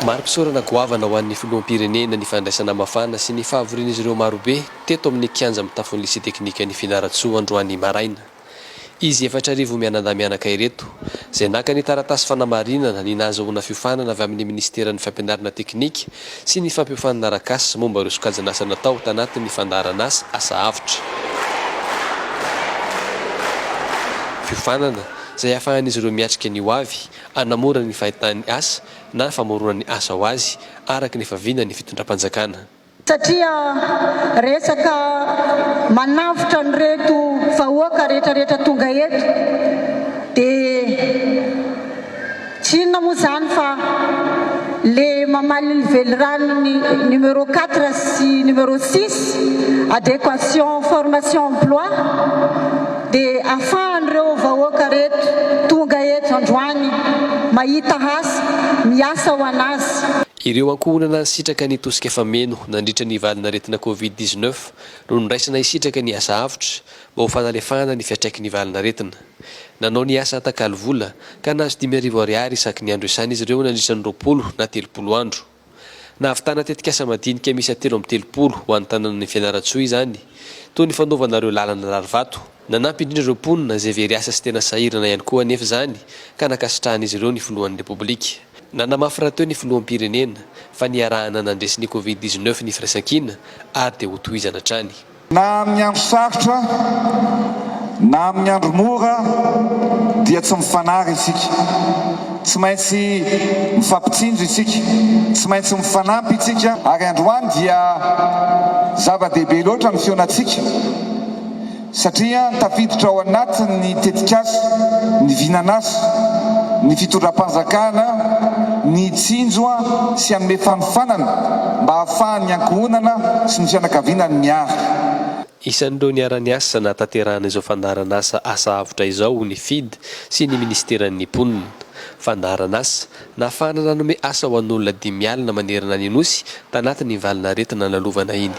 Mari-pisaorana goavana ho an'ny Filoham-pirenena ny fandraisana mafana sy ny fahavorian'izy ireo marobe teto amin'ny kianja mitafon'ny Lycée Teknikan'i Fianarantsoa androany maraina. Izy efatra arivo mianadahy-mianaka ireto, izay naka ny taratasy fanamarinana ny nahazahoana fiofanana avy amin'ny Minisiteran'ny Fampianarana Teknika sy ny Fampiofanana Arakasa momba ireo sokajin'asa natao tanatin'ny fandaharan'asa, asa avotra. Fiofanana. izay ahafahan'izy ireo miatrika ny hoavy, hanamora ny fahitany asa na famoronany asa ho azy araka ny efa vinan'ny fitondram-panjakana. Satria resaka manavotra an'ireto vahoaka rehetrarehetra tonga eto dia. Tsy inona moa izany fa le mamaly ny veliranon'ny numéro quatre sy numéro six, adéquation formation emploi, dia afahan'ireo vahoaka reto tonga eto androany mahita asa, miasa ho an'azy. Ireo ankohonana nisitraka ny tosika fameno nandritra ny valin'aretina covid dix-neuf no noraisina hisitraka ny asa avotra mba ho fanalefahana ny fiantraikin'ny valin'aretina. Nanao ny asa atakalo vola, ka nahazo dimy arivo ariary isaky ny andro iasana izy ireo nandritra ny roapolo na telopolo andro. Nahavitana tetikasa madinika miisa telo amby telopolo ho an'ny tanànan'i Fianarantsoa izany, toy ny fanaovana ireo lalana rarivato. Nanampy indrindra ireo mponina izay very asa sy tena sahirana ihany koa anefa izany, ka nankasitrahan'izy ireo ny filohan'ny Repoblika. Nanamafy rahateo ny filoham-pirenena, fa niarahana nandresy ny Covid dix-neuf ny firaisankina, ary dia hotohizana hatrany. Na amin'ny andro sarotra na amin'ny andro mora dia tsy mifanary isika. Tsy maintsy mifampitsinjo isika, tsy maintsy mifanampy isika. Ary androany dia zava-dehibe loatra ny fihaonantsika satria tafiditra ao anatin'ny tetikasa ny vinan'asa, ny fitondram-panjakana, ny hitsinjo sy hanome fanofanana. mba hahafahan'ny ankohonana sy ny fianakaviana ny miahy. Isan'ireo niara-niasa nahatanterahana izao fandaharan'asa Asa Avotra izao ny Fid sy ny Minisiteran'ny Mponina. Fandaharan'asa nahafahana nanome asa ho an'olona dimy alina manerana ny Nosy tanatin'iny valin'aretina lalovana iny.